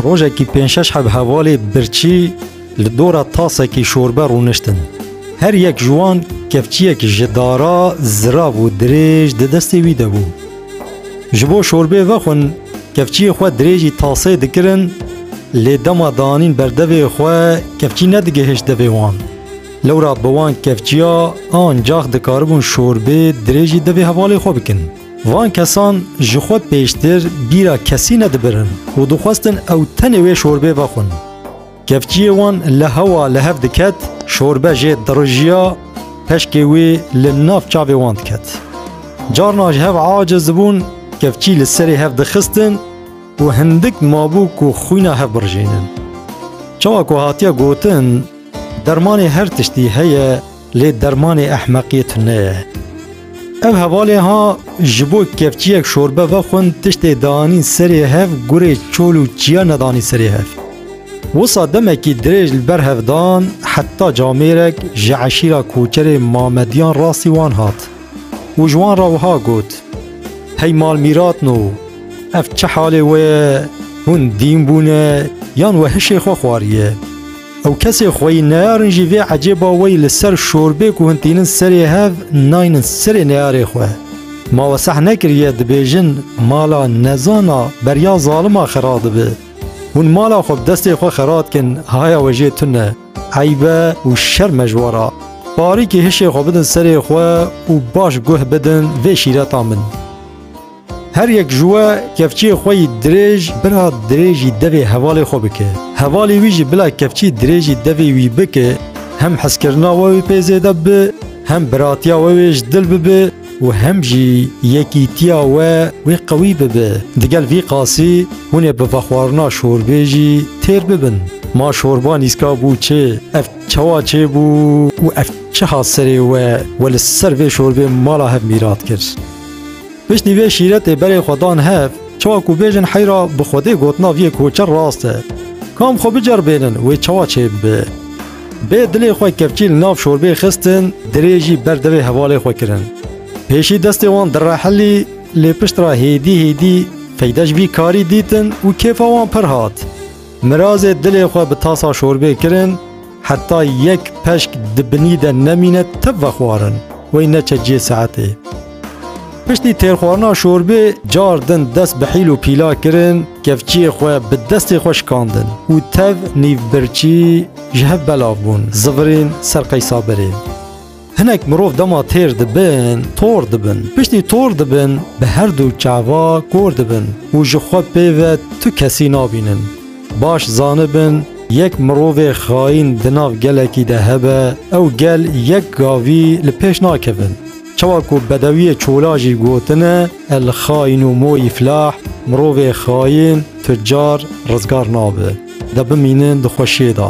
Rojekî pênc şeş heb hevalê birçî li dora tasekî şorbe rûniştin. Her yek ji wan kevçiyek ji dara zirav û dirêj di destê wî de bû. Ji bo şorbê vexwin kevçiyê xwe dirêjî taseyê dikirin lê dema danîn berdevê xwe kevçî nedigihişt devê wan. Lewra bi wan kevçiya ancax dikaribûn şorbê dirêjî devê hevalê xwe bikin. Van kesan ji xwe pêştir bîra kesî nedibirin û dixwestin ew tenê wê şorbê vexwin. Kevçiyê wan li hewa li hev diket, şorbe jê dirijiya, peşkê wê li nav çavê wan diket. Carna ji hev aciz dibûn, kevçî li serê hev dixistin û hindik mabû ku xwîna hev birijênin. Çawa ku hatiye gotin, Dermanê her tiştî heye, Lê dermanê ehmeqiyê tune ye. Ev hevalê ha ji bo kevçiyek şorbe vexwin tiştê dianîn serê hev gurê çol û çiya nedanî serê hev. Wisa demekî dirêj li ber hev dan heta camêrek ji eşîra koçerê Mamediyan rastî wan hat û ji wan re wiha got, Hey malmîratno ev çi halê we ye, hûn dîn bûne yan we hişê xwe xwariye? Ew kesê xweyî neyarin jî vê ecêba wey li ser şorbê ku hûn tînin serê hev naynin serê neyarê xwe. Ma we seh nekiriye dibêjin mala nezana beriya zalima xera dibe. Hûn mala xwe bi destê xwe xera dikin haya we jê tune, eybe û şerm e ji we re. Parîkî hişê xwe bidin serê xwe û baş guh bidin vê şîreta min. Her yek ji we kevçiyê xwe yî dirêj bila dirêjî devê hevalê xwe bike. Hevalê wî jî bila kevçî dirêjî devê wî bike, hem hezkirina we wê pê zêde bibe, hem biratiya we wê ji dil bibe û hem jî yekîtiya we wê qewî bibe. Digel vî qasî hûn ê bi vexwarina şorbê jî têr bibin. Ma şorba nîska bû çê, ev çawa çê bû û ev çiha serê we we li ser vê şorbê mala hev mîrat kir. Piştî vê şîretê berê xwe dan hev, çawa ku bêjin heyra bi Xwedê gotina viyê koçer rast e. Kam xwe biceribênin wê çawa çêbibe. Bê dilê xwe kevçî li nav şorbê xistin, dirê jî ber devê hevalê xwe kirin. Pêşî destê wan direhilî lê piştre hêdî hêdî feyde ji vî karî dîtin û kêfa wan pir hat. Mirazê dilê xwe bi tasa şorbê kirin, Heta yek peşk di binî de nemîne tib vexwarin, wey neçe cihê saetê. Piştî têrxwarina şorbê car din dest bi hîl û pîla kirin, kevçiyê xwe bi destê xwe şikandin û tev nîvbirçî ji hev belav bûn, zivirîn ser qey sabirê. Hinek mirov dema têr dibin, tor dibin. Piştî tor dibin, bi her du çava kor dibin û ji xwe pê ve tu kesî nabînin. Baş zanibin, yek mirovê xayîn di nav gelekî de hebe, ew gel yek gavî li pêş nakevin. Çawa ku bedewiyê çola jî gotine, El xaînu mô yiflah, mirovê xayîn, tucar, rizgar nabe. De bimînin di xweşiyê de.